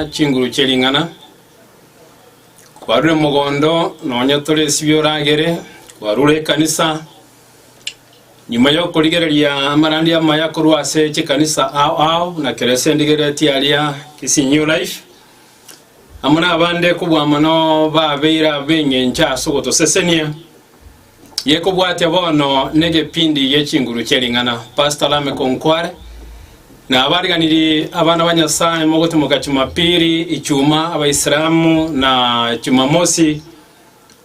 Chinguru chie ring'ana, kwarure mogondo nonya tore esibio oragere, kwarure ekanisa, nyuma y'okorigereria amarandi amaya korwa ase chikanisa ao ao buna kera ase ndigereti aria Kisii New Life, amo nabande kobua mono babeire ab'eng'encho ase ogotosesenia. Gekobwatia bono negepindi gie chinguru chie ring'ana Pastor Lameck Onkware na abariganiri abana ba Nyasaye mogotimoka Chumapili, Ijumaa Abaisilamu na Jumamosi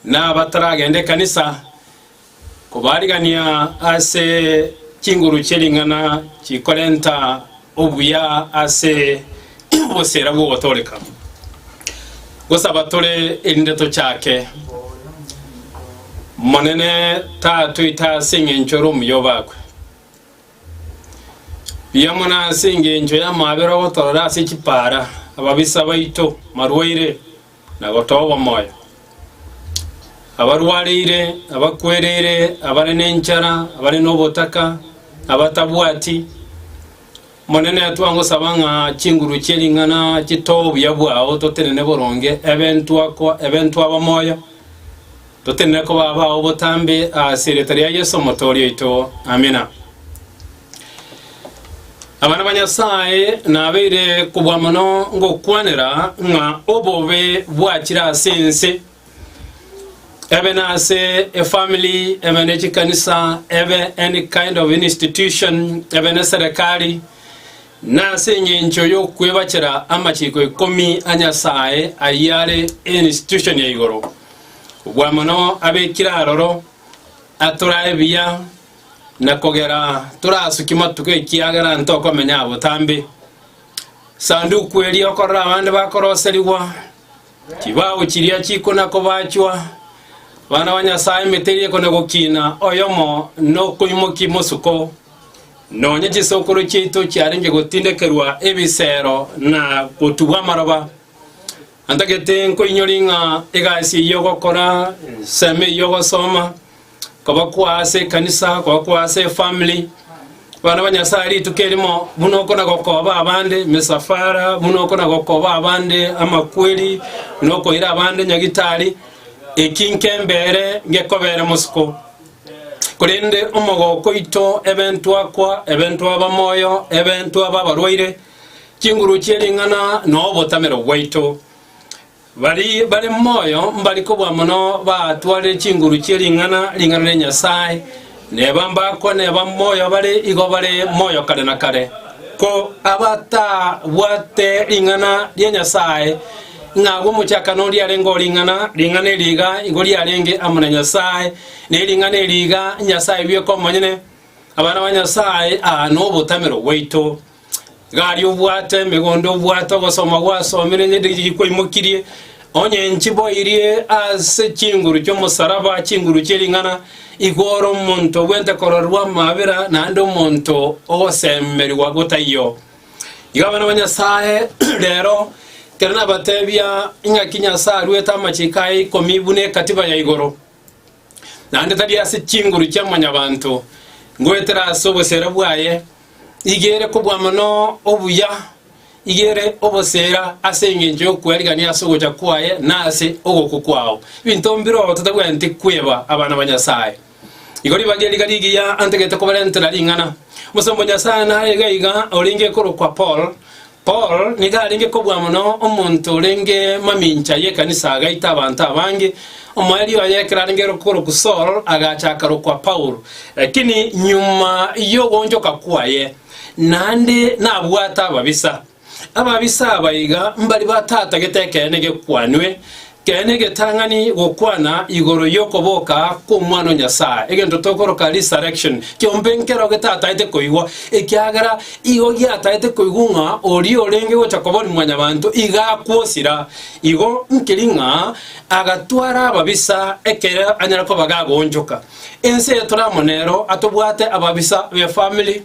na abataragenda ekanisa kobarigania ase chinguru chie ring'ana chikorenta Obuya ase obosera bw'ogotooreka gosaba tore erinde tochake. Monene tatoita ase engencho ere omuya obakwe buya mono ase engencho y'amabera ogotoorera ase chipaara, ababisa baito, marwaire, na gotoogwa moyo, abarwareire, abakwereire, abare nenchara, abare nobotaka, na abatabwati, Omonene, twangosaba ng'a chinguru chie ring'ana chitoo obuya bwao, totenene boronge ebe ntwakwa, ebe ntwaba moyo, totenene koba abao botambe, ase erieta ria Yeso Omotooria oito. Amina. Abana ba Nyasae nabeire kobua mono ngokwanera ng'a obobe bwachire ase ense ebe nase efamily ebe ne chikanisa ebe any kind of institution ebe ne serekari nase eng'encho yokwebachera amachiko ikomi a Nyasae ayio are institution ya igoro. Kobua mono abekire aroro atorae buya Na kogera torasuki matuko ekiagera ntokomenya botambe. Sanduku eria okorora abande bakoroserigwa, chibao chiria chikona kobachwa, abana ba Nyasae emete eria ekona gokina, oyomo nokoimoki mosuko, nonye chisokoro chiaito chiarenge gotindekerwa ebisero na gotugwa amaroba. Antagete nkoinyori ng'a egasi eyio ogokora, ensemo eyio ogosoma, Koba kwa ase ekanisa, koba kwa ase efamily, abana ba Nyasae rituko erimo, buna okona gokoba abande emisafara, buna okona gokoba abande amakweri, buna okoira abande nyagitari, eki nkembere ngekobere mosiko. Korende omogoko oito, ebe ntwakwa, ebe ntwaba moyo, ebe ntwaba abarwaire, chinguru chie ring'ana, na obotamero bwaito. Baria bare moyo mbari kobua mono baatwarire chinguru chie ring'ana ring'ana ria Nyasae, neba mbakwa neba moyo bare igo bare moyo kare na kare. Ko abatabwate ring'ana ria Nyasae, ng'a agwo omochakano oria arenge o ring'ana, ring'ana eri iga igo riarenge amo na Nyasae, ne ring'ana eri iga Nyasae bweka omonyene, abana ba Nyasae aa nobotamero bwaito. Gari obwate emegondo obwate ogosoma gwasomire onye diri gikwaimokirie onye nchiboirie ase chinguru chi'omosaraba chinguru chie ring'ana igoro omonto obwente kororerwa amabera naende omonto ogosemerigwa gotaiyo igo abana ba Nyasaye rero ekero nabatebia ing'aki Nyasaye aruete amachiko aye ikomi buna ekatiba ya igoro naende tari ase chinguru chia mwanyabanto, ngoetera ase obosera bwaye, igere kobua mono obuya, igere obosera ase engencho y'okwerigia ase ogocha kwaye na ase ogokwa kwao. Ebinto mbirobwo totagwenereti kweba abana ba Nyasae. Igo ribaga eriga rigiya antegete kobarentera ring'ana. Omosomba o Nyasae naraiga iga orenge korokwa Paul, Paul nigo arenge kobua mono omonto orenge mamincha y'ekanisa agaita abanto abange. Omoerio oye ekero arenge korokwa Saul agacha akarokwa Paulo. Lakini nyuma y'ogoonchoka kwaye naende nabwate ababisa. Ababisa aba iga mbari batatagete ekeene gekwanwe Kera negetang'ani gokwana igoro yokoboka kw'Omwana o Nyasae, egento tokoroka resurrection, kiombe nkero getataete koigwa, ekiagera igo giataete koigwa ng'a oria orenge gocha kobori mwanyabanto iga akwosira. Igo nkiri ng'a agatwara ababisa ekero anyare koba gagoonchoka. Ense eyo toramo nero atobwate ababisa b'efamily,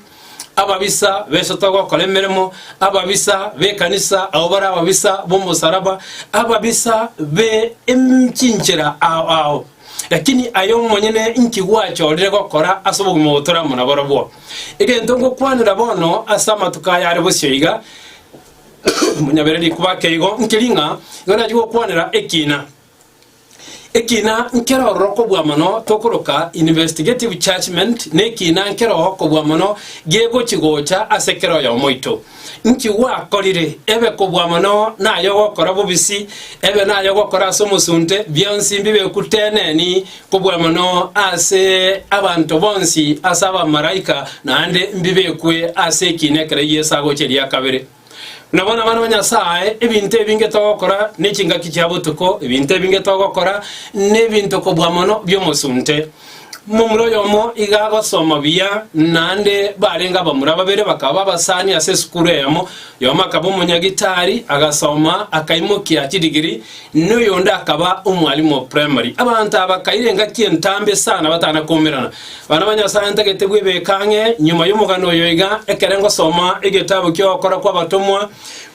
Ababisa b'esotoga okora emeremo, ababisa b'ekanisa abwo bare ababisa b'omosaraba, ababisa be em- chinchera ao ao. Lakini aye omonyene inki gwachorire gokora ase obogima obo tore amo nabarobwo? Egento ngokwanera bono ase amatuko aya are bosio iga, monyabereri kwake igo, nkeri ng'a igo nachi gokwanera ekiina. Ekina nkero ororo kobua mono tokoroka investigative judgment nekina nkero kobua mono gegochi gocha ase kera oyomo oito. Nki gwakorire? Ebe kobua mono naye ogokora bobisi, ebe naye ogokora ase omosunte, bionsi mbibe kuteneni kobua mono ase abanto bonsi, ase abamaraika, naende mbibekwe ase ekina ekero Yeso agocha eria kabere. Buna bono abana ba Nyasae, ebinto ebinge togokora nechingaki chia botuko, ebinto ebinge togokora nebinto kobua mono bi'omosunte. Momura oyomo iga agosoma buya naende barenge abamura babere bakaba babasani ase esukuru eyemo, oyomo akaba omonyagitari, agasoma akaimokia chidigiri, Noyonde akaba omwalimu o primary. Abanto aba bakaira engaki entambe esana batana koumerana. Bana ba Nyasae ntagete bwebeka ang'e nyuma y'omogano oyo iga ekere ngosoma egetabu ki'ogokora kw'abatomwa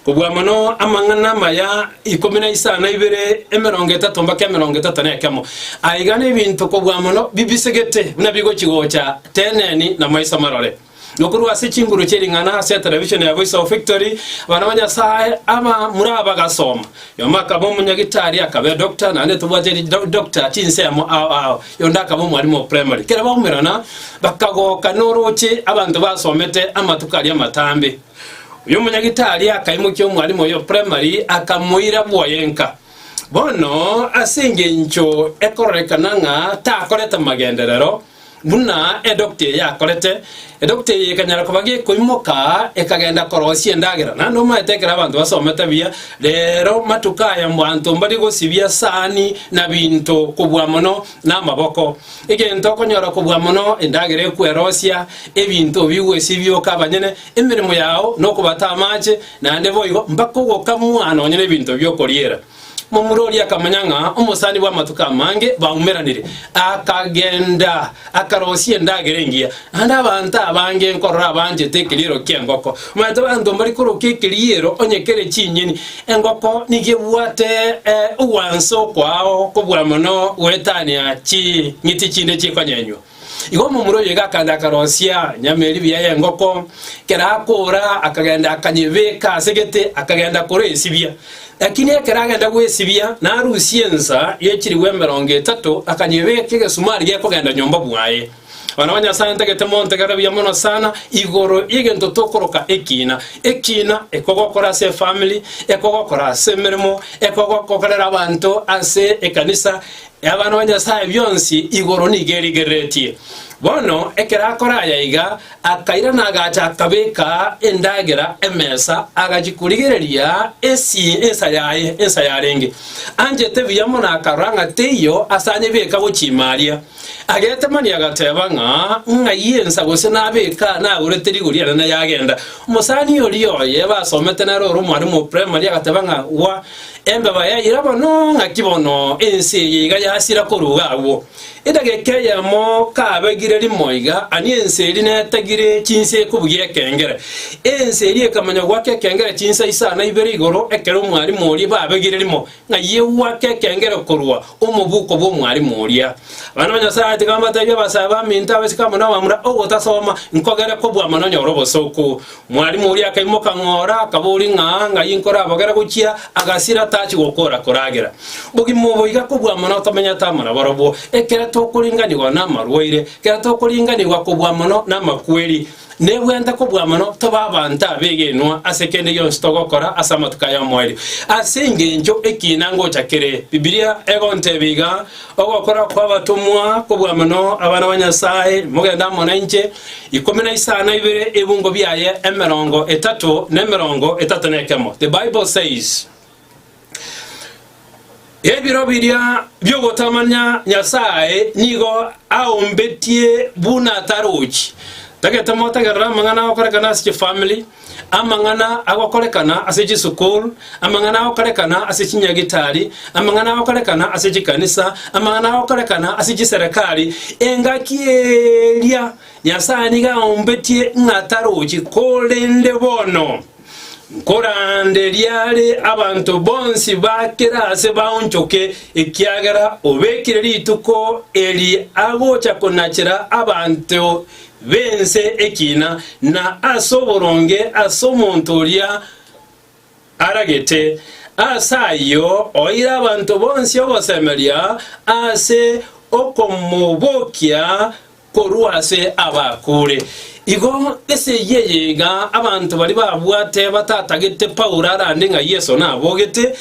kobua mono amang'ana amaya ikomi na isano na ibere emerongo etato mbaka emerongo etato na ekemo. Aiga nebinto kobua mono bibisegete buna bigochi gocha teneni na maiso marore. Nokorwa ase chinguru chie ring'ana ase television ya Voice of Victory, abana ba Nyasae aba mura bagasoma. Yomo akaba omonyagitari, akabe doctor, naende ntobwate ri do- doctor chinsemo ao ao. Yonde akaba omwalimu o primary. Kera baumerana, bakagoka noroche abanto basomete amatuko aria amatambe. Oyo omonyagitari akaimokia omwalimu oyo o primary, akamoira bwoyenka. Bono ase engencho ekororekana ng'a takorete magenderero, Buna edokita eye yakorete, edokita eye ekanyara koba gekoimoka, ekagenda korosia endagera. Naende omaete ekero abanto basomete buya, rero matuko aya mbanto mbari gosibia sahani na binto kobua mono namaboko. Egento okonyora kobua mono endagera ekwerosia, ebinto bigwesibioka abanyene, emeremo yao nokobata amache, naende boigo mpaka ogokamwa nonye nebinto biokoriera. Momura oria akamanya ng'a omosani bw'amatuko amange baumeranire, akagenda, akarosia endagera engiya. Naende abanto abange nkorora abanchete ekeriero ki'engoko. Omanyete abanto mbari koroka ekeriero onye kere chinyeni, engoko nigo ebwate eh, ogwanso kwao kobua mono goetania ching'iti chinde chikonyenywa. Igo omomura oyo iga akagenda akarosia nyama eria ebiya y'engoko, ekero akoora akagenda akanyebeka ase egete, akagenda koresibia. Lakini ekero agenda gwesibia narusia ensa ye chilifu emerongo etato akanyebeka egesumari gekogenda nyomba bwaye. Abana ba Nyasae ntagete montegere buya mono sana igoro y'egento tokoroka ekina. Ekina ekogokora ase efamiri, ekogokora ase emeremo, ekogokorera abanto ase ekanisa, Abana ba Nyasae bionsi igoro nigo erigereretie. Bono ekero akora aya iga, akairana agacha akabeka endagera emesa, agachia korigereria esi ensa yaye ensa yarenge. Anchete buya mono akarora ng'a teiyo ase anyebeka gochiima aria. Agetemania agateba ng'a ng'ai ensa gose nabeka nagorete rigori ere nayagenda. Omosani oria oye basomete nere ore omwarimu o primary agateba ng'a gwa Embeba yaira bono ng'aki bono, ense eye iga yasira koruga agwo. Edageka eyemo kabegire rimo iga, ani ense eria netagire chinsa ekobugia ekengere. Ense eria ekamanya goaka ekengere chinsa isano na ibere igoro ekero omwarimu oria babegire rimo ng'a ye gwaka ekengere korwa omobuko bw'omwarimu oria. Abana ba Nyasae tiga mbatebia abasae baminto, abasike amo nabamura, ogotasoma nkogere kobua mono nyore obosooku. Mwarimu oria akaimoka ng'ora, akaboria ng'a, Ng'ai nkorabogere gochia? Agasira, tachi gokora, koragera bogima obo iga kobua mono tomenyete amo nabarobwo. Ekero tokoringanigwa namarwaire, ekero tokoringanigwa kobua mono namakweri, nebwente kobua mono tobe abanto abegenwa ase kende gionsi togokora ase amatuko aya omoerio. Ase engencho ekiina ngocha kere, Bibilia egontebia iga, Ogokora kw'abatomwa kobua mono, abana ba Nyasae, mogende amo nainche, ikomi na isano na ibere ebungo biaye emerongo etato na emerongo etato na ekemo. The Bible says, Ebiro biria biogotamanya Nyasae nigo aombetie buna atarochi. Tagete motegerere amang'ana agokorekana ase chifamili, Amang'ana agokorekana ase chisukuru, amang'ana agokorekana ase chinyagitari, amang'ana agokorekana ase chikanisa, amang'ana agokorekana ase chiserekari, engaki eria Nyasae nigo aombetie ng'a tarochi, korende bono nkoranderia are abanto bonsi ba kera aase baonchoke, ekiagera obekire rituko eri agocha konachera abanto b'ense ekiina, na ase oboronge ase omonto oria aragete, ase ayio oire abanto bonsi ogosemeria ase okomobokia korwa ase abakure. Igo ase eyio eye iga abanto baria babwate batatagete Paulo arande ng'a Yeso nabogete,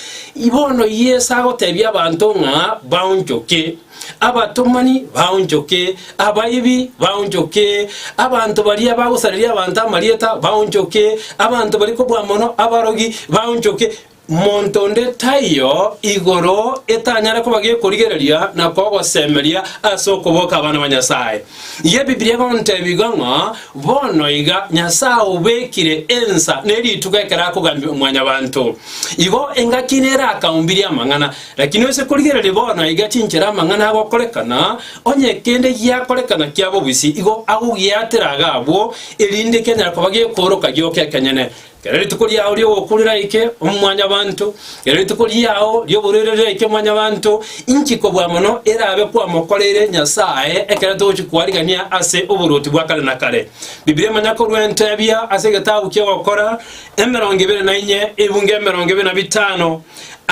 bono Yeso agotebia abanto ng'a baonchoke. Abatomani baonchoke, abaibi baonchoke, abanto baria bagosareria abanto amarieta baonchoke, abanto bari kobua mono, abarogi baonchoke. Monto onde taiyo igoro etanyare koba gekorigereria na kogosemeria ase okoboka abana ba Nyasae. Iga Ebibilia egontebia igo ng'a bono iga Nyasae obekire ensa ne rituko ekero akogambia Mwanyabanto. Igo engaki nere akaumbirie amang'ana. Lakini noise korigereria bono iga chinchera amang'ana agokorekana, onye kende giakorekana kia bobisi, igo agogiatera iga abwo, erinde kianyare koba gekooroka gioka ekenyene. Kera rituko riao ri'ogokura riaike, Omwanyabaanto, kera rituko riao ri'oborwaire riaike, Omwanyabaanto, inki kobua mono erabe kwamokoreire Nyasae ekero togochia kwarigania ase oboruoti bwa kare na kare? Bibilia emanya korwa entebia ase egetabu ki'Ogokora emerongo ebere na inye, ebungo emerongo ebere na bitano,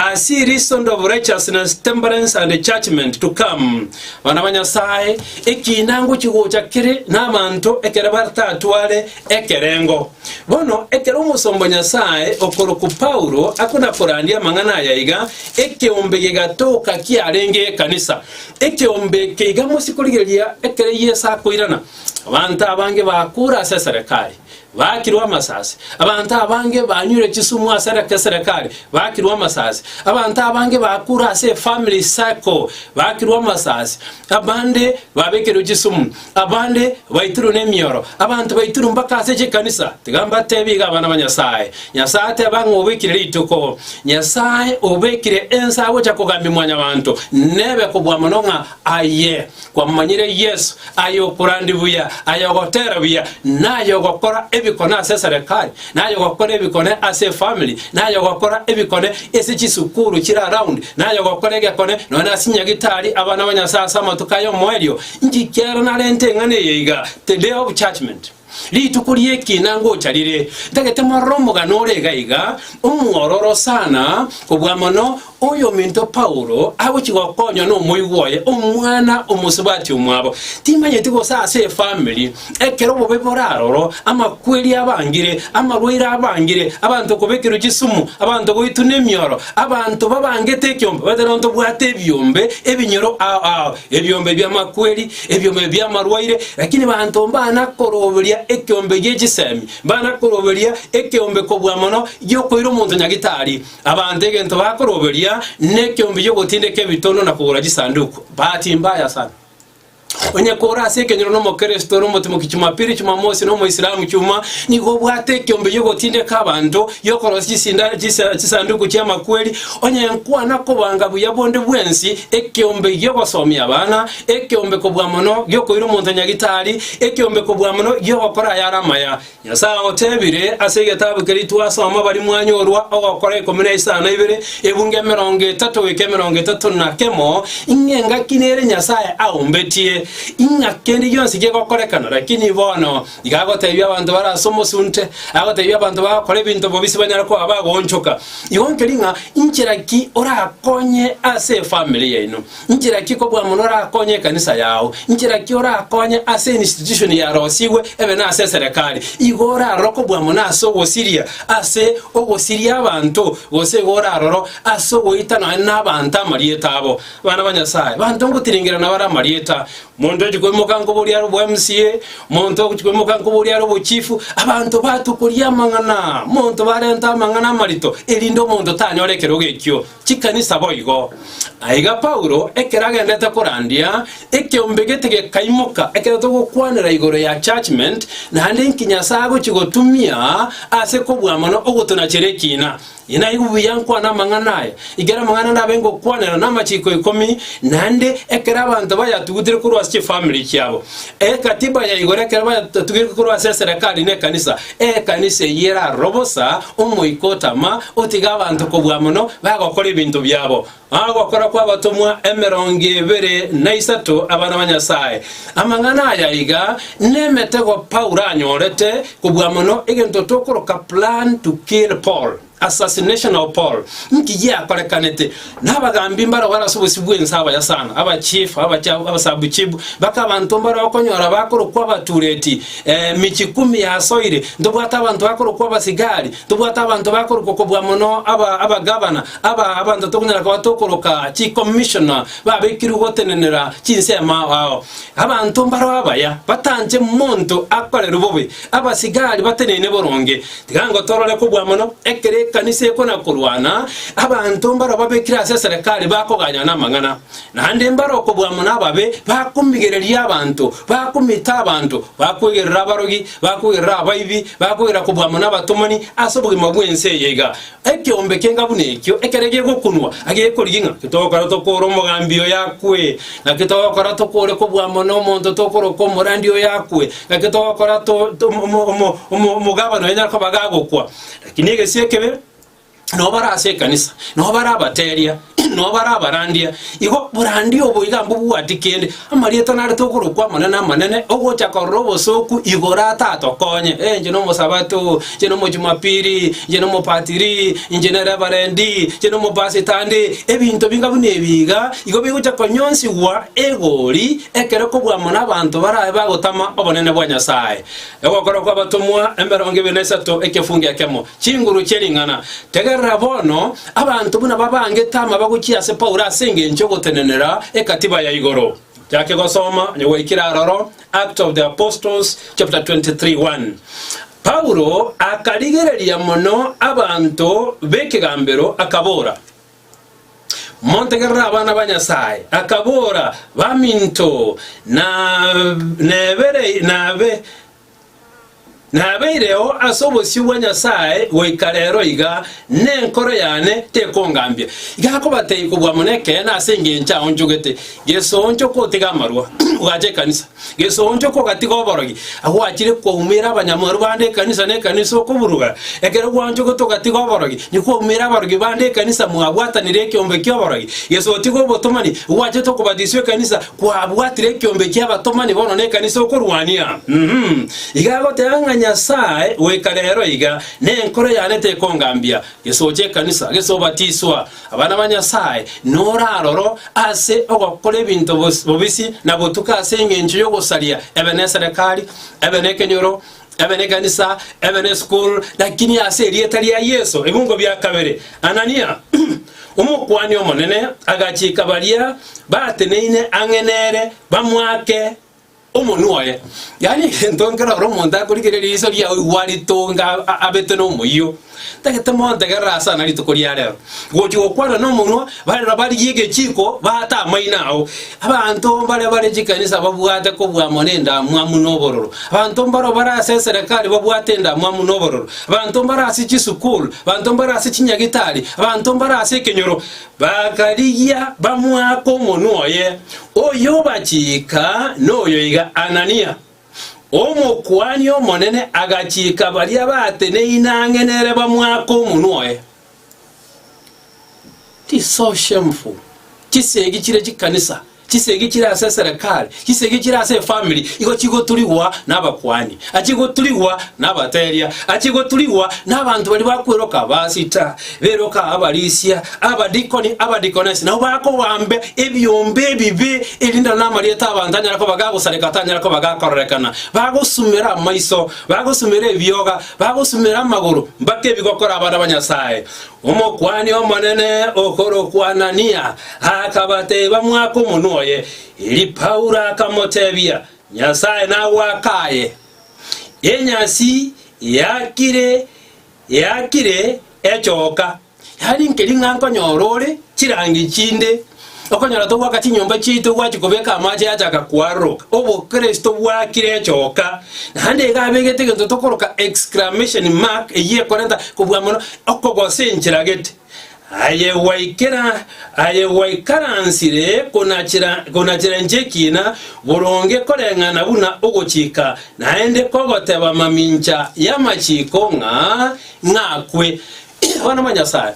As ye reason of righteousness, temperance, and judgment to come, bana ba Nyasae, ekiina ngochia gocha kere nabaanto ekero bataatware ekerengo. Bono ekero omosomba Nyasae okorokwa Paulo akona korandia amang'ana aya iga, ekeombe gegatoka kiarenge ekanisa. Ekeombe eke iga mosie korigereria ekero Yeso akoirana, abanto abange bakure ase eserekari, Baakirwe amasasi. Abanto abange banyure chisumu ase ekeserekari, baakirwe amasasi. Abanto abange bakure ase efamily circle, baakirwe amasasi. Abande babekerwe chisumu, abande baitirwe nemioro, abanto baitirwe mpaka ase chikanisa. Tiga mbatebie iga abana ba Nyasae, Nyasae ateba ng'a obekire rituko, Nyasae obekire ensa agocha kogambia Mwanyabaanto, nebe kobua mono ng'a aye. Kwamomanyire Yeso, ay'okorandia buya, ay'ogotera buya, na ay'ogokora ebikone ase eserekari, na ay'ogokora ebikone ase efamiri, na ay'ogokora ebikone ase chisukuru chire around, na ay'ogokora egekone nonya na ase nyagitari abana ba Nyasae ase amatuko ay'omoerio, inki kiaro narente eng'ana eye iga, the day of judgment. Rituko ri'ekina ngocha rire, ntagete morore omogano ore iga iga, omwororo sana, kobua mono, oyominto Paulo agochia gokonywa nomoigwa oye, omwana omosubati omwabo. Timanyeti gose ase efamiri, ekero obobe bore aroro, amakweri abangire, amarwaire abangire, abanto kobekerwa chisumu, abanto goitwa nemioro, abanto babangete ekiombe, baete nontobwate ebiombe ebinyoro ao ao, ebiombe bi'amakweri, ebiombe bi'amarwaire, lakini banto mbana koroberia ekeombe gie chisemi, mbana koroberia ekeombe kobua mono giokoira omonto nyagitari. Abanto egento bakoroberia nekeombe giogotindeka ebitono na kogora chisanduku. Bahati mbaya sana. Onye kore ase ekenyoro nomokristo ore omotimoki Jumapili, Jumamosi na omoisilamu chuma, nigo obwate ekeombe giogotindeka abanto, giokorosia chisinda- chisa- chisanduku chi'amakweri, onye nkwana kobanga buya bonde bwensi ekeombe giogosomia abana, ekeombe kobua mono gi'okoira omonto nyagitari, ekeombe kobua mono gi'ogokora ayare amaya. Nyasae agotebire, Ase egetabu keria twasoma baria mwanyorwa ogokora ikomi na isano ibere, ebungo emerongo etato goika emerongo etato na kemo, ing'a engaki nere Nyasae aombetie, ing'a kende gionsi gegokorekana. Lakini bono iga agotebia abanto bare ase omosunte, agotebia abanto bagokora ebinto bobisi banyare koba bagoonchoka. Igo nkeria ng'a inchera ki orakonye ase efamiri yaino. Inchera ki kobua mono orakonye ekanisa yao? Inchera ki orakonye ase institution yarosigwe ebe nase eserekari? Igo oraroro kobua mono ase ogosiria ase ogosiria abanto, gose igo oraroro ase ogoita nonye nabanto amarieta abo? Bana ba Nyasae, banto ngotiringira nabare amarieta, monto ochi koimoka nkoboria are obo MCA, monto ochi koimoka nkoboria are obo chief, abanto batukoria amang'ana, monto barente amang'ana amarito, erinde omonto tanyore ekerogo ekio. chikanisa boigo. Aiga Paulo, ekero agendete korandia, ekeombe gete gekaimoka, ekero togokwanera igoro ya judgment, naende inki Nyasae agochia gotumia ase kobua mono ogotonachera ekiina. Inye naigwe buya nkwane amang'ana aya, ekero amang'ana ndabe ngokwanera namachiko ikomi, naende ekero abanto bayatugutire korwa ase chifamiri chiabo. Ekatiba ya igoro ekero bayatugerete korwa ase eserekari na ekanisa, Ekanisa eyio eraroro bosa omoika otama, otiga abanto kobua mono, bagokora ebinto biabo. Ogokora kw'Abatomwa emerongo ebere na isato abana ba Nyasae. Amang'ana aya iga nemetego Paulo anyorete kobua mono egento tokoroka plan to kill Paul. Assassination of Paul, Nki giakorekanete? Nabagambi mbarabwo ase obosio bw'ense abaya sana, abachifu, abacha- abasabuchibu, baka abanto mbare okonyora bakorokwa abatureti, eh, michi kumi yasoire, ntobwate abanto bakorokwa abasigari, ntobwate abanto bakorokwa kobua mono aba- abagabana, aba abanto tokonyara koba tokoroka chi'commissioner babekirwe gotenenera chinsemo ao ao. Abanto mbaro abaya batanche monto akorerwe bobe. Abasigari bateneine boronge, tiga ngotorore kobua mono, ekero ekanisa ekona-korwana, abanto mbareo babekire ase eserekari bakoganyana amang'ana, naende mbare okobua mono ababe, bakomigereria abanto, bakomita abanto, bakwegerera abarogi, bakwegerera abaibi, bakwegerera kobua mono abatomani ase obogima bw'ense eye iga. Ekeombe kenga buna ekio ekero gegokunwa, agekorigia ng'a, Titogokora tokore omogambi oyo akwe, naki togokora tokore kobua amo nomonto tokoroka omorandi oyo akwe, naki togokora to, to, omo- omo- omo- omogabana oyo nyare koba gagokwa. Lakini egesie ekebe, nabo bare ase ekanisa, nabo bare abateria. Noo bare abarandia, igo borandia obo iga mbobwati kende, amarieta narete okorokwa amanene amanene, ogocha korora obosooku igoro atatokonye. Eh, inche nomosabato, inche nomojumapiri, inche nomopatiri, inche ne reverendi, inche nomopasitandi, ebinto binga buna ebi iga, igo bigocha konyonsigwa egori ekero kobua mono abanto barabe bagotama obonene bwa Nyasae. Ogokora kw'Abatomwa emerongo ebere na isato ekefungo ekemo. Chinguru chie ring'ana. Tegerera bono, Abanto buna babangete amaba gochia ase Paulo ase engencho y'ogotenenera egatiba ya igoro. Yake gosoma onye gwaikire aroro, Acts of the Apostles chapter 23 1. Paulo akarigereria mono abanto b'ekegambero, akabora, Montegerere abana ba Nyasae, akabora, Baminto, na nebere, nabe, Nabeireo ase obosio bwa Nyasae goika rero iga, na enkoro yane tekongambia. Iga akobatebi kobua mono ekeene ase engencho aonchogete, Gesooncha okotiga amarwa, ogacha ekanisa. Gesooncha okogatiga oborogi, agwachire kwaumera abanyamwaru bande ekanisa na ekanisa okoburuga. Ekero gwanchogete ogatiga oborogi, nikwaumera abarogi bande ekanisa mwabwatanire ekeombe ki'oborogi. Gesotiga obotomani, ogwachete okobatiswa ekanisa, Kwabwatire ekiombe ki'abatomani bono nekanisa okorwania. Uhum. Iga agoteba ng'a Nyasae goika rero iga, Nenkoro yane tekongambia, gesocha ekanisa, gesobatiswa, abana ba Nyasae, noraroro ase ogokora ebinto bobisi na gotuka ase engencho y'ogosaria, ebe neserekari, ebe nekenyoro, Ebe nekanisa, ebe nesukuru, lakini ase erieta ria Yeso ebungo bia kabere. Anania, Omokuani omonene, agachika baria bateneine ang'e nere bamoake omonwa oye. Yaani egento nkero ore omonto akorigereria riiso riao igwa ritonga abete nomoyio. Tagete montegerere ase ana rituko ria rero, gochia gokwanera nomonwa, barero barigie egechiko baate amaino ao. Abanto mbaria bare chikanisa babwate kobua mono endamwamu na obororo. Abanto mbareo bare ase eserekari babwate endamwamu na obororo. Abanto mbare ase chisukuru, abanto mbare ase chinyagitari, abanto mbare ase ekenyoro, bakarigia bamwake omonwa oye, Oyobachiika noyoiga Anania. Omokuani omonene agachiika baria bateneine ang'e nere bamwake omonwa oye. This so shameful. Chisegi chire chikanisa, chisegi chire ase eserekari, chisegi chire ase efamiri igo chigoturigwa nabakuani, achigoturigwa nabateria, achigoturigwa nabanto baria bakweroka, pastor, Beroka abarisia, abadikoni, abadikonesi nabo bakobambia ebiombe ebibe, erinde nonya namarieta 'abanto anyare koba gagosareka atanyare koba gakororekana. Bagosumera amaiso, bagosumera ebioga, bagosumera amagoro, mpaka ebi gokora abana ba Nyasae. Omokuani omonene okorokwa Anania akabateba, Mwake omonwa oye. Erio Paulo akamotebia, Nyasae nagwakaye enyasi yakire Yaakire echoka, yariinke ring'anko nyoro ore chirangi chinde, okonyora togwaka chinyomba chiaito gwachi kobeka amache yachaka koaroroka, obokristo bwaakire echoka, naende iga abegete egento tokoroka exclamation mark eyio ekorenta kobua mono, okogosa enchera gete. Aye gwaikera, aye gwaikaransire konachera, konachera inche ekiina, boronge koreng'ana buna ogochika, naende kogoteba mamincha y'amachiko ng'a ng'akwe. Bono mo Nyasae,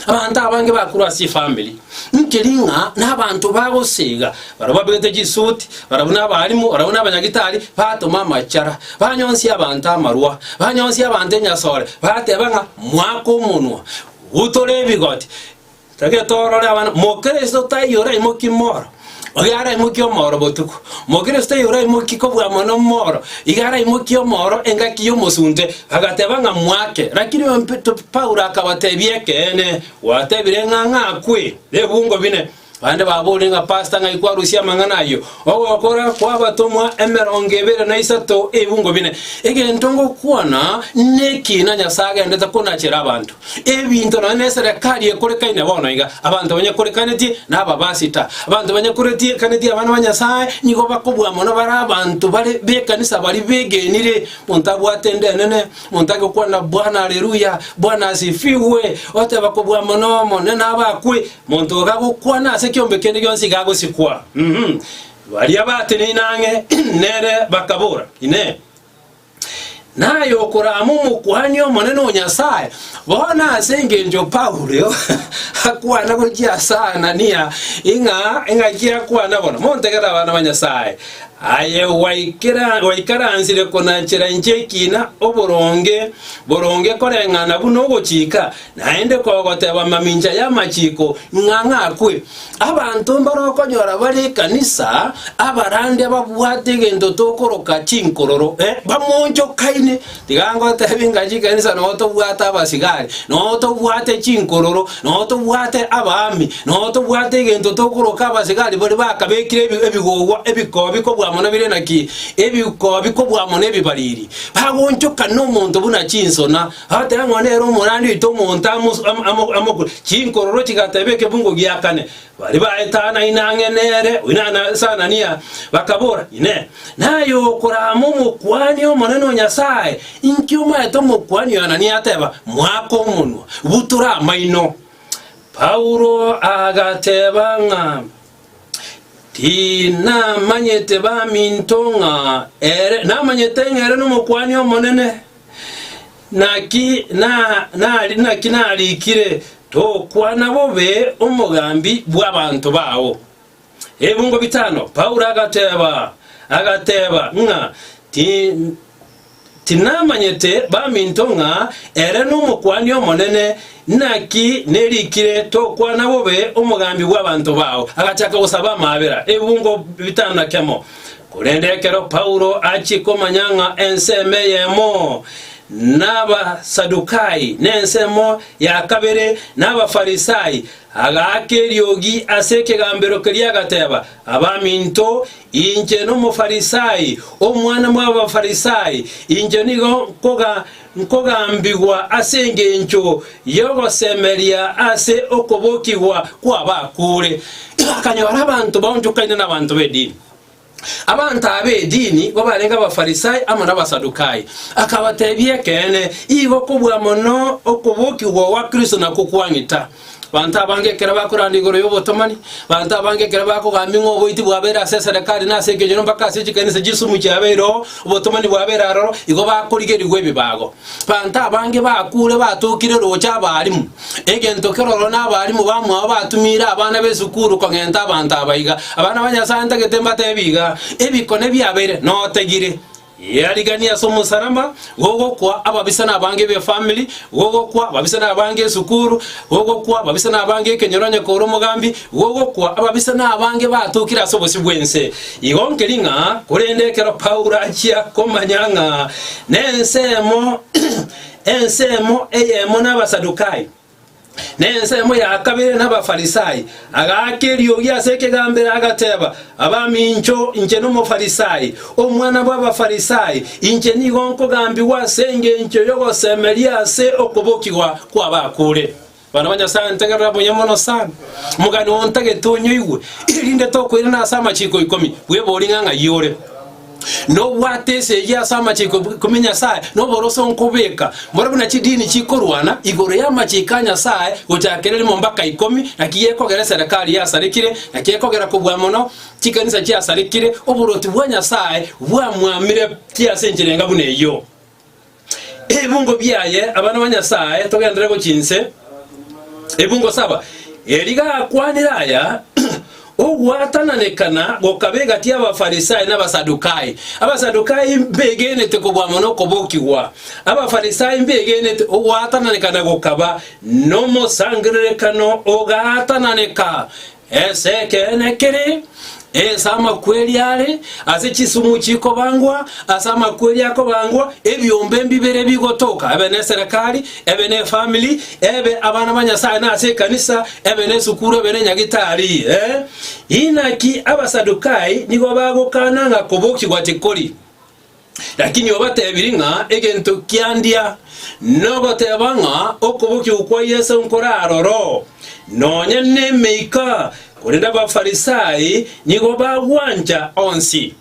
abanto abange bakorwa ase efamiri, nkeri ng'a nabanto bagosiga, Barabwo abegete chisuti, barabwo nabaalimu, barabwo nabanyagitari, batoma amachara, banyonsia abanto amarwa, banyonsia abanto enyasore, bateba ng'a, Mwake omonwa, gutore ebigoti, tagete torore abana. Mokristo taiyo oraimokie mooro, oyo araimokie omooro botuko. Mokristo oyo oraimokie kobua mono mooro, iga araimokie omooro engaki y'omosunte. Agateba ng'a mwake, lakini Paulo akabatebia, Ekeene, gwatebire ng'a ng'akwe, nebungo bine. Bande babore ng'a pasta ng'ai kwarusia amang'ana ayio? Ogokora kw'abatomwa emerongo ebere na isato ebungo bine. Egento ngokwana neki ng'a Nyasae agendete konachere abanto. Ebinto nonya na eserekari ekorekaine bono iga, abanto banyakorekanetie na ababasita. Abanto banyakoretiekaneti abana ba Nyasae nigo bakobua mono bare abanto bare b'ekanisa bari begenire. Monto abwate ende enene, monto age gokwana Bwana Aleluya, Bwana Asifiwe, oteba kobua mono, Omonene abe akwe. Monto ogagokwana ase ekeombe kende gionsi iga agosikwa. Baria bateneine ang'e nere bakabora, Inee! Naye okorama Omokuani Omonene o Nyasae? Bono ase engencho Paulo akwana gochia ase Anania, ing'a engaki akwana bono, Montegere abana ba Nyasae, aye gwaikaransire konachera inche ekina, oboronge boronge koreng'ana buna ogochika, Naende kogoteba mamincha y'amachiko ng'a ng'akwe, abanto mbare okonyora bare ekanisa, abarandi ababwate egento tokoroka chinkororo, eh, bamonchokaine. Tiga ngotebie ng'a chikanisa noo tobwate abasigari, noo tobwate chinkororo, noo tobwate abaami, noo tobwate egento tokoroka abasigari baria bakabekire ebi- ebigogwa ebikobi kobua mono bire naki, ebikobi kobua mono ebibariri, bagonchokana omonto buna chinsona, Agateba ng'a nere omorandi oito omonto amokure. Chinkororo chigateba ekebungo gia kane. Baria baetano ainang'e nere, oino ase Anania, bakabora, Inee! Naye okorama Omokuani omonene o Nyasae? Inki omaete Omokuani oyo Anania ateba? Moaka omonwa, butura amaino. Paulo agateba ng'a, Tinamanyete baminto ng'a ere, namanyete ng'a ere n'Omokuani omonene. Naki na- na- naki narikire, Tokwana bobe omogambi bw'abanto bao. Ebingo bitano Paulo agateba agateba ng'a ti- tinamanyete baminto ng'a ere n'Omokuani Omonene, naki nerikire, Tokwana bobe omogambi bw'abanto bao. Agachaka gosaba amaabera, ebingo bitano na kemo. Korende ekero Paulo achia komanya ng'a ensemo eyemo n'Abasadukai, na ensemo ya kabere n'Abafarisai, agaaka eriogi ase ekegambero keria, agateba, Abaminto, inche n'Omofarisai, omwana bw'Abafarisai, inche nigo nkogambigwa ase engencho y'ogosemeria ase okobokigwa kw'abakure. Akanyora abanto baonchokaine nabaanto b'edini. Abanto aba edini nigo barenge Abafarisai amo n'Abasadukai. Akabatebia, Ekeene, igo kobua mono okobokigwa gwa Kristo na kokwanita. Abanto abange ekero bakoranda igoro y'obotomani, abanto abange ekero bakogambia ng'a oboiti bwabeire ase eserekari na ase ekenyoro mpaka ase chikanisa chis'sumukia yabeire oo, obotomani bwabeire aroro, igo bakorigerigwa ebibago. Abanto abange bakuure batokire roche abarimu, egento keroro n'abarimu bamwao batumiire abana b'esukuru kong'enta abanto aba iga, Abana ba Nyasae ntagete mbatebie iga, Ebikone biabeire notegire, Riarigani ase omosalaba, gogokwa ababisani abange b'efamiri, gogokwa ababisani abange esukuru, gogokwa ababisani abange ekenyoro onye kor'omogambi, Gogokwa, ababisa na abange batokire ase obosio bw'ense. Igo nkeri ng'a korende ekero Paulo achia komanya ng'a nensemo ensemo eyemo n'Abasadukai, na ensemo ya kabere n'Abafarisai, agaaka eriogi ase ekegambero, agateba, Abamincho, inche n'Omofarisai, omwana bw'Abafarisai, inche nigo nkogambigwa ase engencho y'ogosemeria ase okobokigwa kw'abakure. Bana ba Nyasae, ntegerera buya mono sana omogani oo ntagete onyoigwe, erinde tokoirana ase amachiko ikomi. Bwebori ng'a ng'ai ore, na obwate ense eyio ase amachiko ikomi a Nyasae, na oborose onkobeka, mboro buna chidini chikorwana igoro y'amachiko a Nyasae, gochakera erimo mbaka ikomi, naki gekogera eserekari yasarekire, na kekogera kobua mono chikanisa chiasarekire, oboruoti bwa Nyasae bwamwamire ki ase enchera enga buna eyio? Ebungo biaye abana ba Nyasae togendere gochia inse, Ebungo saba. Eri gakwanire aya, ogwatananekana gokaba egati y'Abafarisai n'Abasadukai. Abasadukai mbegenete kobua mono okobokigwa, Abafarisai mbegenete. Ogwatananekana gokaba nomosangererekano ogaatananeka. Ense ekeene kere ense amakweri are ase chisumu chikobangwa, ase amakweri akobangwa ebiombe mbibere bigotoka, ebe neserekari, ebe nefamiri, ebe abana ba Nyasae na ase ekanisa, ebe nesukuru, ebe nenyagitari. Eh, inaki Abasadukai nigo bagokana ng'a kobokigwa tikori. Lakini obatebirie ng'a egento kiandia nogoteba ng'a okobokigwa kwa Yeso nkoraroro, nonya nemeika, korende Abafarisai nigo bagwancha onsi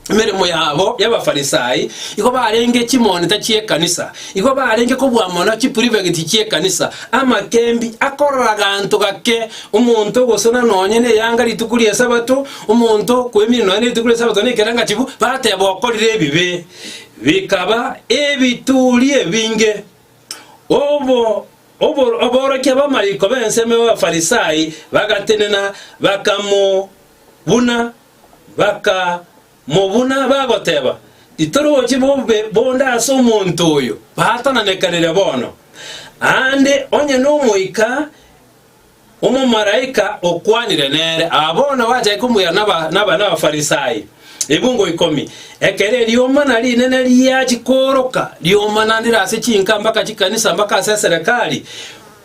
emeremo yabo y'Abafarisai, igo barenge chimonita chi'ekanisa, igo barenge kobua mono chiprivegiti chi'ekanisa, amakembi, akorora ganto gake, omonto ogosuna nonya neyanga rituko ri'Esabato, Omonto okwemina nonya netuko ri'Esabato nekerangachifu, bateba okorire ebibe, bikaba ebituri ebinge. Obo obo aborokia b'amariko b'ensemo y'Abafarisai bagatenena, bakamobuna, bakamobuna, bagoteba, Titori gochia bobe bonde ase omonto oyo, baatananekanire bono, aande onye n'Omoika Omomalaika okwanire nere. Aa bono gwachaki komoira n'Abafarisai ebungo ikomi, ekero eriomba na rinene riachia kooroka, riomba naende ase chinka mpaka chikanisa mpaka ase eserekari,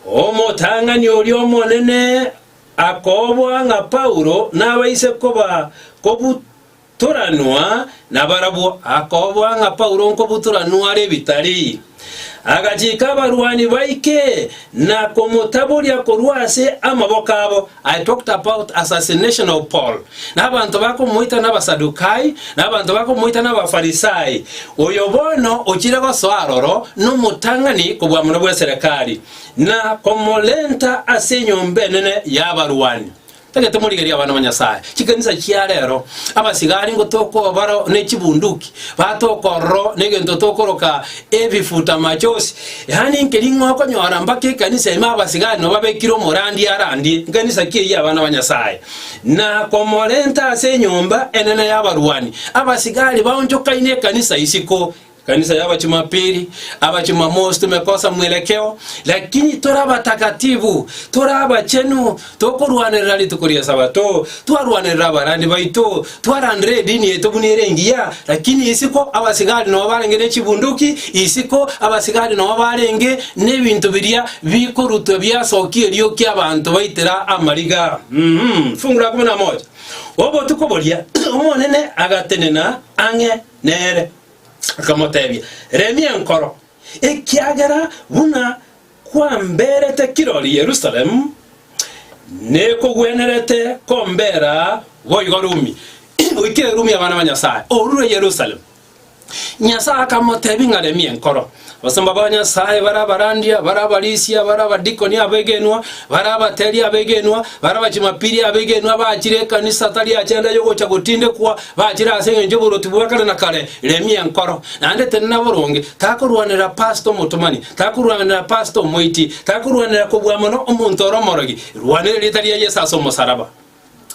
omotang'ani oria omonene akoboa ng'a Paulo nabaise koba kobutwa Toranwa nabarabwo. Akoboa ng'a Paulo nkobutora nware ebitari. Agachika abarwani baike na komotaboria korwa ase amaboko abo. I talked about assassination of Paul, na abanto bakomoita n'Abasadukai, na abanto bakomoita n'Abafarisai, oyo bono ochire gosoa aroro nomotang'ani kobua mono bw'eserekari, na komorenta ase enyomba enene y'abarwani. Tagete morigerie abana ba Nyasae. Chikanisa chia rero, abasigari ngo tokobaro ne chibunduki, batokorro negento tokoroka ebifuta machosi. Yaani nkeri ng'a okonyora mpaka ekanisa ime abasigari no babekire omorandi arandie nkanisa ki eyia abana ba Nyasae na komorenta ase enyomba enene y'abarwani. Abasigari baonchokaine ekanisa isiko Kanisa ya Abachumapili, Abachumamosi tomekosa mwerekeo, lakini tore abatakatifu, tore abachenu, tokorwanerera rituko ri'Esabato, twarwanerera abarandi baito, twarandera edini yaito buna ere engiya, lakini isiko abasigari nao barenge ne chibunduki, isiko abasigari nao barenge nebinto biria bikorutwa biasokia eriokia abanto baitera amariga. Uhum, fungu la kumi na moja. Obotuko boria Omonene agatenena ang'e nere. Akamotebia, Remia enkoro, ekiagera buna kwamberete kirori Yerusalemu, nekogwenerete kombera boigo Rumi. Oikire Rumi abana ba Nyasae, orure Yerusalemu. Nyasae akamotebia ng'a remia enkoro. Abasomba ba Nyasae bare abarandia, bare abarisia, bare abadikoni abegenwa, bare abateri abegenwa, bare abachumapiri abegenwa abaachire ekanisa tari ache ande y'ogocha gotindekwa, baachire ase engencho y'oborwoti bwa kare na kare. Remia enkoro, naende tenena boronge, takorwanera pastor omotomani, takorwanera pastor omoiti, takorwanera kobua mono omonto ore omorogi, rwanera erieta ria Yeso ase omosaraba.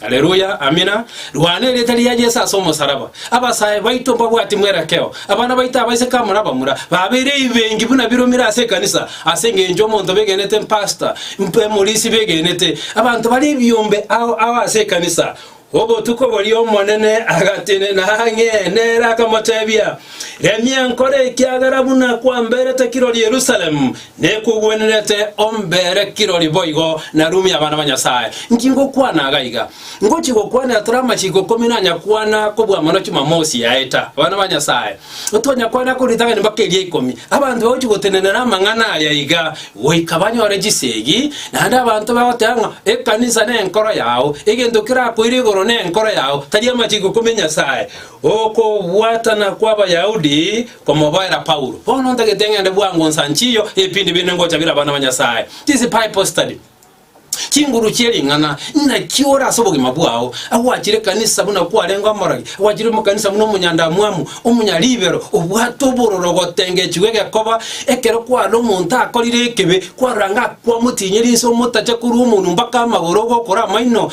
Aleluya! Amina! Rwana erieta ria Yeso ase omosaraba. Abasae baito mbabwati mwerekeo. Abana baito abaiseke amo nabamura babeire eibengi buna biromire ase ekanisa ase engencho omonto begenete mpastor, mp emorisi begenete. Abanto bare ebiombe ao ao ase ekanisa. Obotuko boria Omonene agatenena ang'e nere akamotebia, Remia enkoro ekiagera buna kwamberete kirori Yerusalemu, Nekogwenerete ombere kirori boigo, na rumia abana ba Nyasae. Inki ngokwana iga iga? Ngochia gokwanera tore amachiko ikomi nanyakwana kobua mono Chumamosi yaeta. Abana ba Nyasae, tonyakwana korwa ritang'ani mpaka eria ikomi. Abanto bagochia gotenenera amang'ana aya iga, goika banyore chisegi, naende abanto bagoteba ng'a ekanisa nenkoro yao, egento kerakoire igoro nenkoro yao, tari amachiko ikomi a Nyasae. Okobwatana kw'Abayahudi Komoboera Paulo, Bono ntagete ng'ende bwango nsanchiyo ebipindi binde ngocha bire abana ba Nyasae. This Bible study. Chinguru chie ring'ana inaki ore ase obogima bwao, agwachire ekanisa buna kwarenge omorogi, agwachire omokanisa buna omonyandamwamu, omonyaribero, obwate obororo gotengechigwa egekoba, ekero kwarora omonto akorire ekibe, kwarora ng'a kwamotinyeri inse omotache korwa omonu mpaka amagoro ogokora amaino,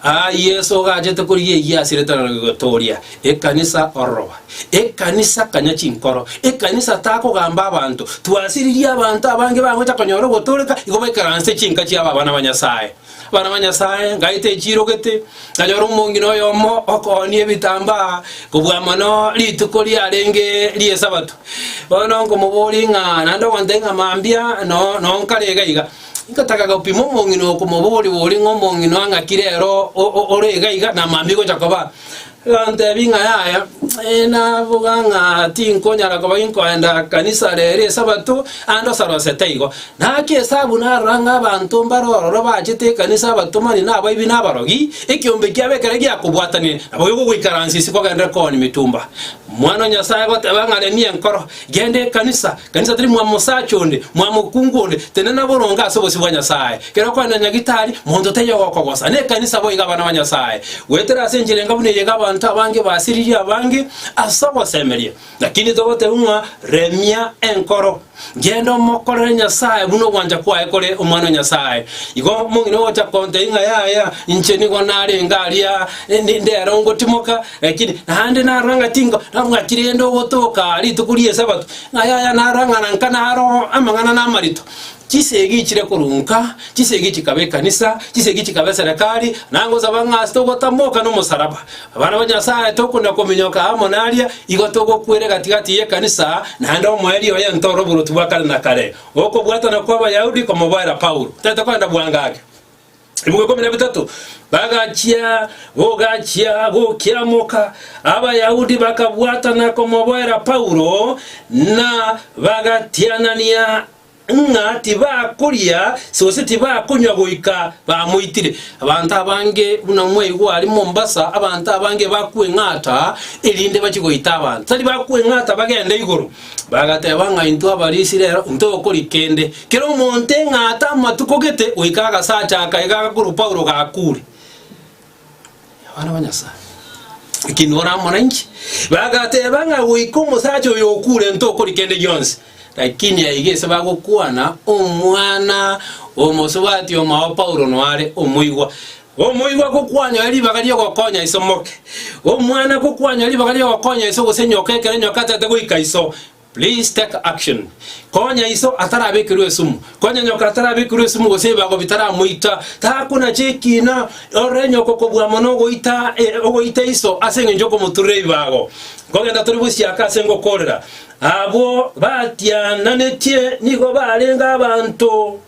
Aa Yeso ogachete korigia eyio ase eretaro ria gotooria ekanisa ororoba. Ekanisa kanya chinkoro. Ekanisa takogamba abanto. Twasiririe abanto abange bagocha konyora ogotooreka igo baikaranse chinka chiabo abana ba Nyasae. Abana ba Nyasae ngaite echirogete, nganyora omong'ina oyomo okoonia ebitambaa kobua mono rituko riarenge ri'esabato. Bono nkomoboria ng'a naende ogoteba ng'a mambia no nonkare iga iga. Ngotaka gopima omong'ina oo komoboria boria ng'a omong'ina ang'akire ere o- o- o- ore iga iga na mambia gocha koba. Agantebi ng'a yaya, ee naboga ng'a tinkonyara koba nkoenda kanisa rero esabato ande osarosete igo. Naki esabu narora ng'a abanto mbare ororo bachete ekanisa abatomani na abaibi na abarogi, ekeombe kiabo ekero giakobwatanire, nabo gekogoikaransia ase kogenderera kooni mitumba. Omwana o Nyasae agoteba ng'a remia enkoro. Genda ekanisa. Kanisa teri mwamosacha onde, mwamokungu onde, tende naboronge ase obosio bwa Nyasae. Kera okogenda Nyagitari, monto taiyo ogokogosa. Nekanisa boigo abana ba Nyasae. Goetera ase enchera engabu neyio iga abanto abange basiririe abange ase ogosemeria. Lakini togoteba ng'a remia enkoro. Genda omokorere Nyasae buna ogwancha kwaye kore omwana o Nyasae. Igo mong'ina ogocha kontebia ng'a yaya inche nigo narenge aria, ninde ere ongotimoka, Lakini naende narora ng'a tinko nabwati rende ogotoka rituko ri'Esabato, ng'a yaya narora ng'a nanka naro amang'ana namarito. Chisegi chire korwa nka, chisegi chikaba ekanisa, chisegi chikaba eserekari, na ngosaba ng'a ase togotamoka nomosaraba, abana ba Nyasae tokona kominyoka amo naria, igo togokwera egati-gati y'ekanisa, naende omoerio oye ntoro oboroti bwa kare na kare. Okobwatana kw'Abayahudi komoboera Paulo, Tete kogenda bwango ake. Ebugo ikomi na bitato bagachia gogachia gokiamoka, Abayahudi bakabwatana komoboera Paulo, na bagatianania ng'a tibakoria gose tibakonywa goika bamoitire. Abanto abange buna mwaigwa aria Mombasa, abanto abange bakweng'ata erinde bachie goita abanto. Tari bakweng'ata bagende igoro. Bagateba ng'a, Intwe Abarisiraeli intwe gokori kende, kera omonto eng'aate amatuko gete goika agasacha aka iga korwa Paulo gakuure. Abana ba Nyasae, eki nora amo nainche. Bagateba ng'a goika omosacha oyo okuure intwe gokori kende gionsi. Lakini aiga ase bagokwana, omwana omosubati omao Paulo noare omoigwa. Omoigwa gokwanyoire ribaga ri'ogokonya iso moke. Omwana gokwanyoire ribaga ri'ogokonya iso gose nyoka ekero nyoka ataete goika iso. Please take action. Konya iso atarabekerwe esumu. Konya nyoka atarabekerwe esumu gose ebibago bitaramoita. Takonacha ekina ore nyoka kobua mono ogoita ogoita iso ase engencho okomoturera ebibago. Nkogenda tori bosiaka ase ngokorera. Abwo batiananetie nigo barenge abanto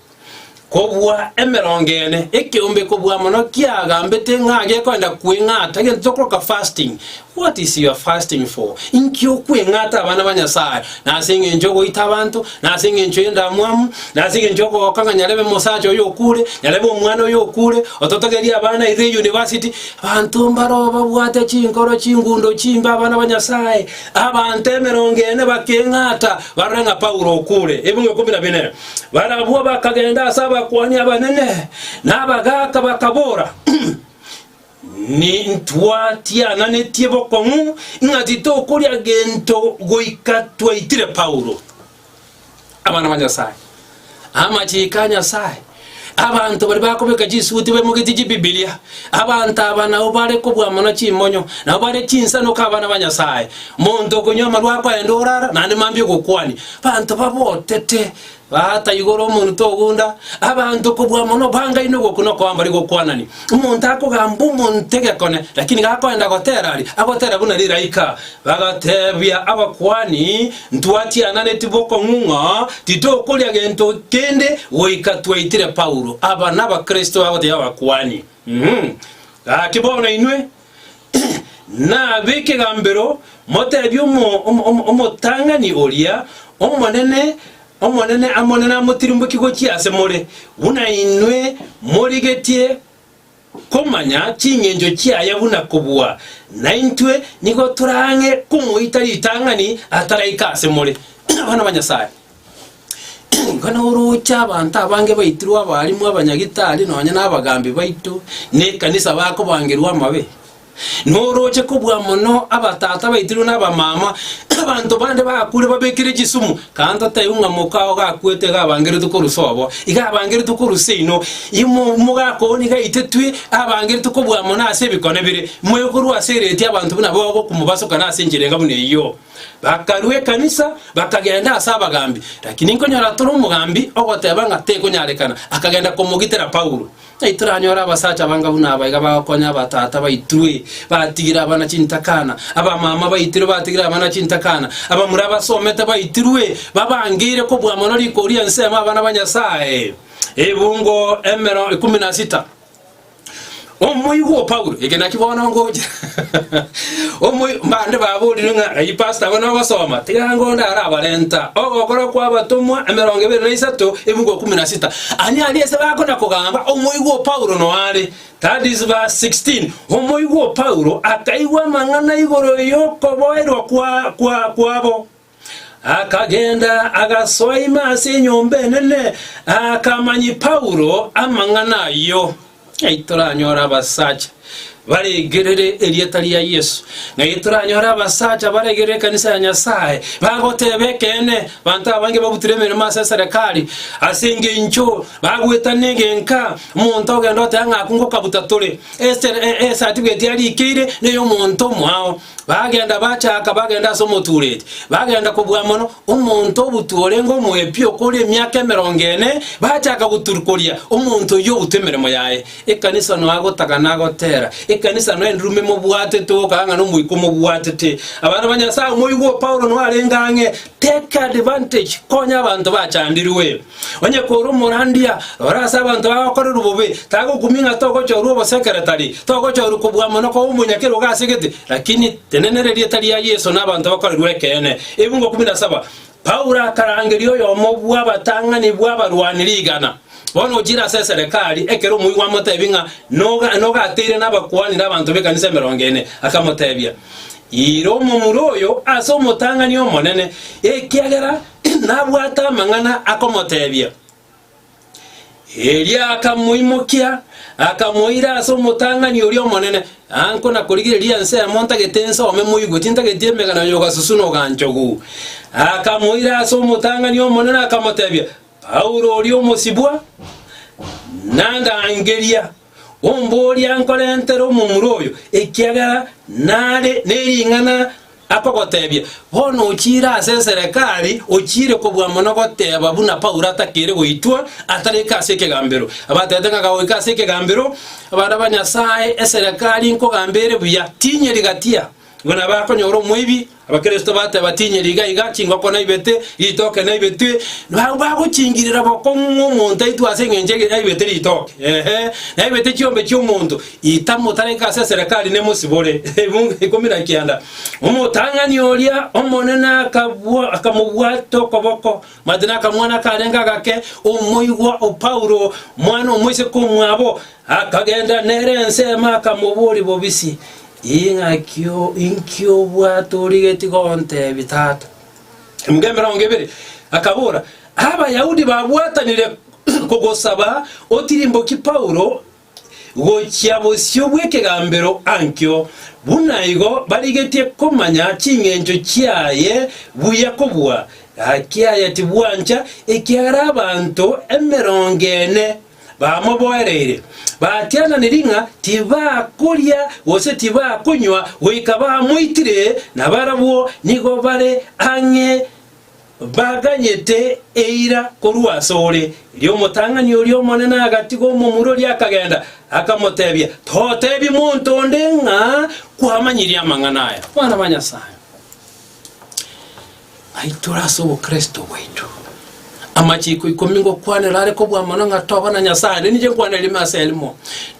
Kobua emerongo ene, ekeombe kobua mono kiagambete ng'a gekoenda kweng'ata egento tokoroka fasting. What is your fasting for? Inki okweng'ata abana ba Nyasaye? Nase engencho ogoita abanto, nase engencho y'endamwamu, nase engencho ogogoka ng'a nyarebe mosacha oyo okure, nyarebe omwana oyo okure, ototogerie abana aye the university. Abanto mbaro babwate chinkoro, chingundo, chimbe abana ba Nyasaye. Abanto emerongo ene bakeng'ata barore ng'a Paulo okure. Ebunga ikomi na bine. Barabwo bakagenda ase abakuani abanene na abagaaka, bakabora, Nintwa tiananetie bokong'u ng'a titokoria gento goika twaitire Paulo. Abana ba Nyasae, amachiko a Nyasae. Abanto baria bakobeka chisuguti baimogetie chibibilia. Abanto aba nabwo bare kobua mono chimonyo, nabo bare chinsanuka abana ba Nyasae. Monto okonywa amarwa akoenda orara, naende mambia ogokwania. Abanto babotete, baata igoro omonto ogunda. Abanto kobua mono bangaini ogoku nokoa mbari gokwanani. Omonto akogamba omonto egekone, lakini gakoenda gotera aria, agotera buna riraika. Bagatebia abakuani, Ntwatiananeti bokong'u ng'a titokoria gento kende goika twaitire Paulo. Aba nabakristo bagotebia abakuani, Umm, gaki bono inwe nab'ekegambero motebie omotang'ani oria, Omonene, Omonene, Omonene amotirimbokie gochia ase more, buna inwe morigetie. komanya ching'encho chiaye buna kobua, naintwe nigo toraang'e komoita ritang'ani ataraika ase more. Abana ba Nyasae, ingo noroche abanto abange baitirwe abaalimu, abanyagitari, nonya nabagambi baito nekanisa bakobangerwa amabe. Norooche kobua mono abatata baitirwe na abamama, abanto bande bakure babekire chisumu, kando taibo ng'a moka ao gakwete iga abangeretwe korwa sobo, iga abangeretwe korwa seino, imo mogaaka oo nigo aitetwe, abangeretwe kobua mono ase ebikone bire, moigurwe ase ereetia abanto buna bagokumobasukana ase enchera enga buna eyio. Bakarua ekanisa, bakagenda ase abagambi. Lakini nkonyora tore omogambi ogoteba ng'a tekonyarekana, akagenda komogitera Paulo. Titoranyora abasacha abange buna aba iga bagokonya abatata baitwe batigire abana chintakana, abamama baitirwe batigire abana chintakana, abamura abasomete baitirwe babangeire kobua mono riko ria ensemo abana ba Nyasae. Ebungo emero ikomi na sita. Omoigwa o Paulo, eke naki bono ngocha. Omoi mbande baborirwe ng'a ayi pastor bono ogosoma, tiga ngonde arabarenta. Ogokora kwa abatomwa emerongo ebere na isato, ebungo ikomi na sita. Aye aria ase bakona-kogamba omoigwa o Paulo noare, that is verse 16, omoigwa o Paulo akaigwa amang'ana igoro y'okoboerwa kwa- kwa- kwabo, akagenda agasoa ime ase enyomba enene, akamanyi Paulo amang'ana ayio. Ng'ai toranyore abasacha baregerere erieta ria Yesu? Ng'ai toranyore abasacha baregerere ekanisa ya Nyasaye, bagoteba ekeene? Abanto abange babutire emeremo ase eserekari ase engeincho bagwetana egenka, omonto ogende oteba ng'a akwo ngokabuta tore. Esere- e- e- esatifigeti yarikeire neyomonto omwao. Bagenda bachaka bagenda ase omotureti, bagenda kobua mono. Omonto obutwe orenge omoepio okore emiaka emerongo ene, bachaka goturukoria omonto oyio obutu emeremo yaye. Ekanisa noa gotagana agotera, ekanisa noa endurume mobwatete gokaga ng'a nomoika omobwatete. Abana ba Nyasaye, moigwe Paulo noarenge ang'e, take advantage, konya abanto bachandirwe. Onye kore omorandia ore ase abanto agokorerwa bobe tagokumia ng'a togochorwa obosekeretari, togochorwa kobua amo nokoba omonyakera o gasegete, lakini tenena erieta ria Yeso na abanto bakorerwe ekeene. Ebungo 17 Paulo akarangeria oyomo bw'abatang'ani bw'abarwani rigana, Bono ochire ase eserekari, ekero omoigwa amotebi ng'a noga nogateire nabakuani na abanto b'ekanisa emerongo ene, akamotebia, Ira omomura oyo ase omotang'ani omonene, ekiagera nabwate amang'ana akomoteebia. Erio akamoimokia, akamoira ase omotang'ani oria omonene, Anko nakorigereria ensemo ntagete ensome moigwe, tintageti emegena y'ogasusu noganchogu. Akamoira ase omotang'ani omonene, akamoteebia, Paulo oria omosibwa, nandangeria. Omboorie ankorentere omomura oyo, ekiagera nare nering'ana akogotebia, bono ochiire ase eserekari, ochiire kobua mono goteba buna Paulo atakeire goitwa, atarika ase ekegambero. Abatebete ng'a gagoika ase ekegambero, abana ba Nyasae, eserekari nkogamba ere buya, tinyeri gatia, buna bakonyora omoibi, Abakristo bate batinyeri iga iga, chingoko naibete, ritoke naibetwe, nabao bagochingirera bokong'u ng'omonto aitwe ase engencho egere aibete ritoke, eeh, naibete chiombe chi'omonto, itamotareka ase eserekari nemosibore. Ebuge ikomi na kianda. Omotang'ani oria omonene akabua, akamobwata okoboko, mati nakamwana akarenge agake, omoigwa o Paulo, mwana omoiseke omwabo, Akagenda nere ensemo akamoboria bobisi, “Ing'aki inki obwate origetie gontebia, tata?” Emerongo emerongo ebere. Akabora, “Abayahudi babwatanire kogosaba otirimbokie Paulo gochia bosio bw'ekegambero Ankio, buna igo barigetie komanya chingencho chiaye buya kobua. Gaki aya tibwancha, ekiagera abanto emerongo ene. bamoboereire, batiananiri ng'a tibakoria gose tibakonywa goika bamoitire, na barabwo nigo bare ang'e baganyete eira korwa asore. Erio omotang'ani oria omonene agatiga omomura oria akagenda, akamotebia, Totebi monto onde ng'a kwamanyirie amang'ana aya, Mwana bwa Nyasae. Aitore ase obokristo bwaito. Amachiko ikomi ngokwanera are kobua mono ng'a toba na Nyasae, ande ninche nkwane rime ase erimo.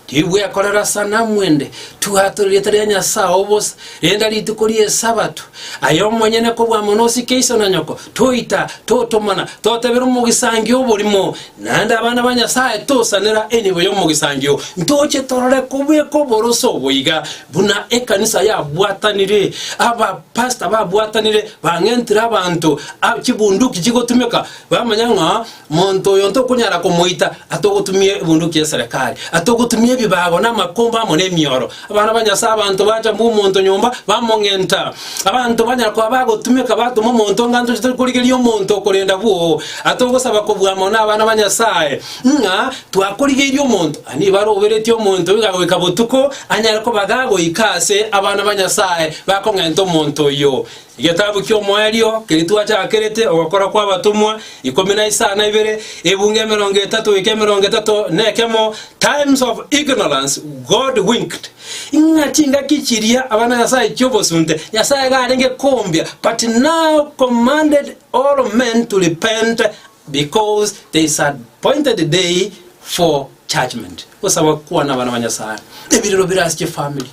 Tibwekorera sanamu ende, tibwatore rieta ria Nyasae obosa, renda rituko ri'Esabato, aye omonyene kobua mono osike iso na nyoko, toita, totomana, totebera omogisangio oborimo, naende abana ba Nyasae tosanera enibo y'omogisangio, ntoche torore kobweka oboroso boiga, Buna ekanisa yabwatanire, abapastor babwatanire bang'entire abanto a chibunduki chigotumeka, bamanya ng'a monto oyo ntokonyara komoita atogotumia ebunduki y'eserekari, atogotumia ebibago na amakomba amo n'emioro. Abana ba Nyasae abanto bacha mbwe omonto nyomba, bamong'enta. Abanto banyara koba bagotumeka batoma omonto onga ntoche tori korigeria omonto okorenda bwoo, atogosaba kobua amo na abana ba Nyasae. ng'a twakorigeirie omonto, aye nigo aroberetie omonto oiga goika botuko anyare kobaga goika aase abana ba Nyasae bakong'enta omonto oyio. Egetabu ki'Omoerio keria twachakerete Ogokora kw'Abatomwa ikomi na isano na ibere, ebungo emerongo etato goika emerongo etato na ekemo, Times of Ignorance God Winked, ng'a chingaki chiria abana ba Nyasae chi'obosunte Nyasae iga arenge kombia, but now commanded all men to repent, Because there is an appointed day for judgment, gosaba kwana abana ba Nyasae. Ebirero bire ase chifamiri,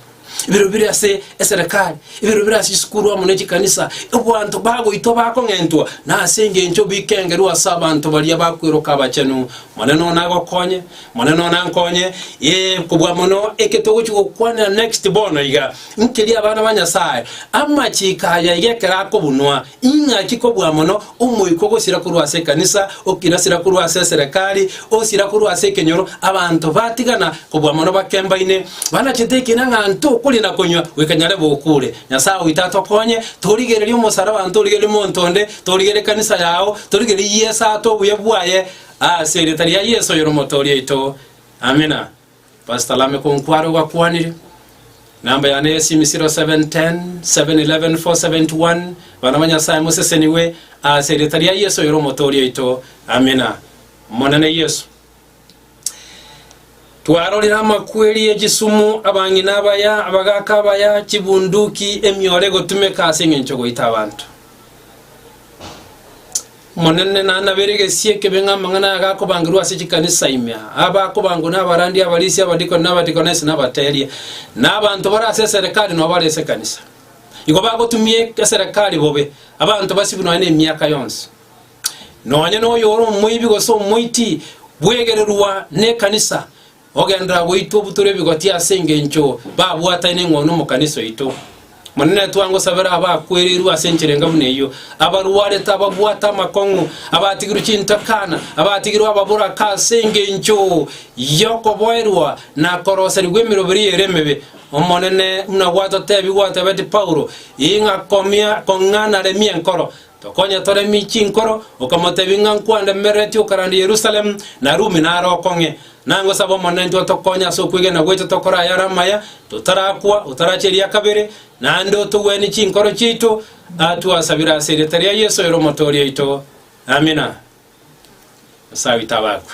ebirero bire ase eserekari, ebirero bire ase chisukuru amo ne chikanisa. Abanto bagoitwa bakong'entwa, na ase engencho bikengerwa ase abanto baria bakweroka abachenu. Monene one agokonye, Monene one ankonye. Ee, kobua mono eke togochi gokwanera next bono iga, nkeria abana ba Nyasae, amachiko aya iga ekero akobunwa, Ing'aki kobua mono omoika ogosira korwa ase ekanisa, okinasira korwa ase eserekari, osira korwa ase ekenyoro, abanto batigana kobua mono bakembaine, banachete ekina ng'a nto okoria na konywa goika nyare bokuure. Nyasae oito atokonye torigererie omosaraba, ntorigererie monto onde, torigererie ekanisa yao, torigererie yiesaate obuya bwaye ase erieta ria Yeso oyore Omotooria oito. Amina. Pastor Lameck Nkware ogakwanire, Namba yane y'esimi 0710 711 471 Bana ba Nyasaye mosesenigwe ase erieta ria Yeso oyore Omotooria oito. Amina. Omonene Yeso, twarorire amakweri ye chisumu, abang'ina abaya, abagaaka abaya, chibunduki, emioro egotumeka ase engencho goita abanto. Omonene nanabere egesie ekebe ng'a amang'ana aya gakobangerwa ase chikanisa ime, aa bakobangwa na abarandia, abarisia, abadikoni na abadikonesi, na abateeria, na abanto bare ase eserekari na obare ase ekanisa. Igo bagotumia eserekari bobe, abanto basibwe nonya nemiaka yonsi. Nonya noyo ore omoibi gose omoiti bwegererwa nekanisa, Ogenderera gwaito butore ebigoti ase engencho babwatane eng'ondi omo kanisa yaito. Monene twangosabera abakwereirwe ase enchera enga buna eyio, abarwarete, ababwate amakong'u, abatigirwe chintakana, abatigirwe ababoraka ase engencho yokoboerwa na koroserigwa emeroberi ere emebe. Omonene, buna gwatotebi gwatebeti Paulo, ing'a komia kong'a naremie enkoro, Tokonye tore michi inkoro, okamotebia ng'a nkwandemereti okarande Yerusalemu, na Rumi nare okong'e. Nangosaba Omonenitwe otokonye ase okwegena gwaito tokore ayare amaya, totarakwa, otaracheria kabere, naende otogwenie chinkoro chiaito, aa twasabire ase erieta ria Yeso oyore Omotoori oito. Amina. Nyasae oito abakwe.